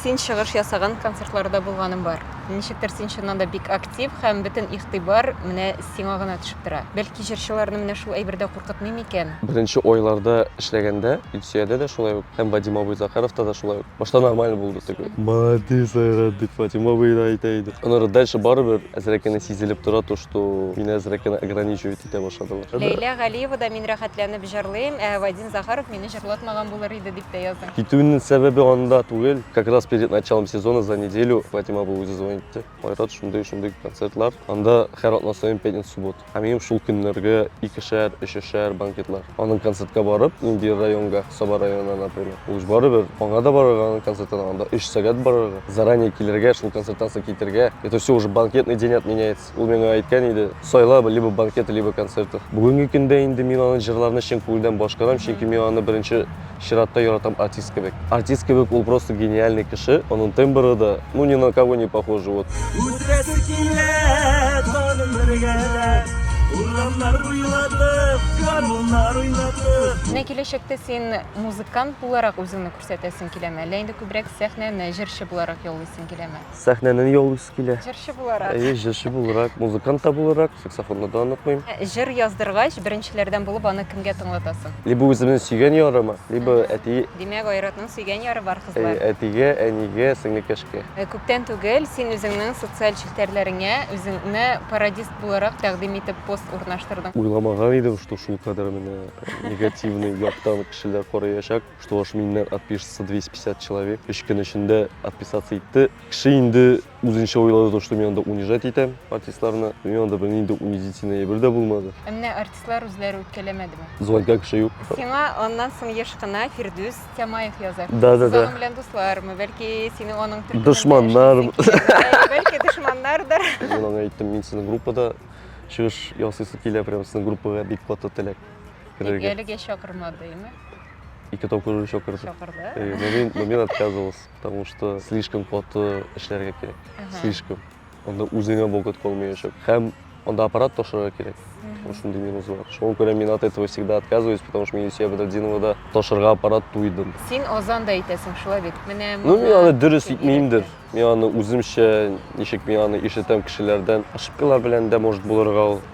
Син чыгыш ясаган концертларда булганым бар. Ничектер син чыннан да бик актив һәм бөтен игътибар менә сиңа гына төшеп тора. Бәлки җырчыларны менә шул әйбер дә куркытмый микән? Беренче айларда эшләгәндә Илсөядә дә шулай ук һәм Вадим абый Захаровта да шулай ук. Башта нормально булды теге. Молодец, Айрат, дип Вадим абый да әйтә иде. Аннары дальше барыбер әзрәк кенә сизелеп тора то, что мине әзрәк кенә ограничивать итә башладылар. Ләйлә Галиева да Мин рәхәтләнеп җырлыйм, ә Вадим. Захаров мине җырлатмаган булыр иде дип тә яздың. Китүнең сәбәбе анда түгел. Как раз перед началом сезона за неделю Фатима апа үзе звонит итте. Айрат, шундый, шундый концертлар. Анда һәр атна саен пятница, суббот. Ә минем шул көннәргә икешәр, өчешәр банкетлар. Аның концертка барып, нинди районга, Саба районына, например. Ул ж барыбер, аңа да барырга аның концертына, анда өч сәгать барырга, заранее килергә, шул концерттан соң китергә. Это все уже банкетный день отменяется. Ул миңа әйткән иде, сайла, либо банкеты, либо концерты. Бүгенге көндә инде мин аның җырларны чын күңелдән башкарам, чөнки мин аны беренче чиратта яратам артист кебек. Артист кебек ул просто гениальный кеше, аның тембры да, ну ни на кого не похожи, вот. Үтерәсе килә тагын бер гәләп, урамнар буйлатып, гармуннар уйнатып. Менә киләчәктә син музыкант буларак үзеңне күрсәтәсең киләме, әллә инде күбрәк сәхнәне җырчы буларак яулыйсың киләме? Сәхнәне яулыйсы килә. Җырчы буларак. Әйе, җырчы буларак, музыкант та буларак, саксофонны да онытмыйм. Җыр яздыргач, беренчеләрдән булып аны кемгә тыңлатасың? Либо үземнең сөйгән ярыма, либо әти. Димәк, Айратның сөйгән яры бар, кызлар. Әйе, әтигә, әнигә, сеңлекәшкә. Күптән түгел син үзеңнең социаль челтәрләреңә үзеңне пародист буларак тәкъдим итеп пост урнаштырдың. Уйламаган идем, что шулкадәр менә негативный яктан кешеләр карыячак. Что аж миннән отпишется 250 человек. Өч көн эчендә отписаться итте. Кеше инде үзенчә уйлады, что мин анда унижать итәм артистларны. Мин анда бер нинди унизительный әйбер дә булмады. Ә менә артистлар үзләре үткәләмәдеме? Звонка кеше юк. Сиңа аннан соң еш кына Фирдүс Тямаев яза. Да, да, да. Аның белән дуслармы, бәлки сине аның төркемендә Дошманнар. Бәлки дошманнардыр. Мин аңа әйттем, мин сезнең группада чыгыш ясыйсы килә, прям сезнең группага бик каты теләк. Тик әлегә чакырмады, имә. Ике тапкыр уже чакырды. Чакырды. Э, но мин, но мин отказывался, потому что слишком каты эшләргә кирәк. Слишком. Анда үзеңә вакыт калмаячак. Һәм анда аппарат ташырга кирәк. Вот шундый минус бар. Шуңа күрә мин от этого всегда отказываюсь, потому что мин Юсия Бадрадинова да ташырга аппарат туйдым. Син Озан да әйтәсең, шулай бит. Менә Ну, мин аны дөрес итмеймдер. Мин аны үземчә, ничек мин аны ишетәм кешеләрдән. Ошибкалар белән дә может булырга ул.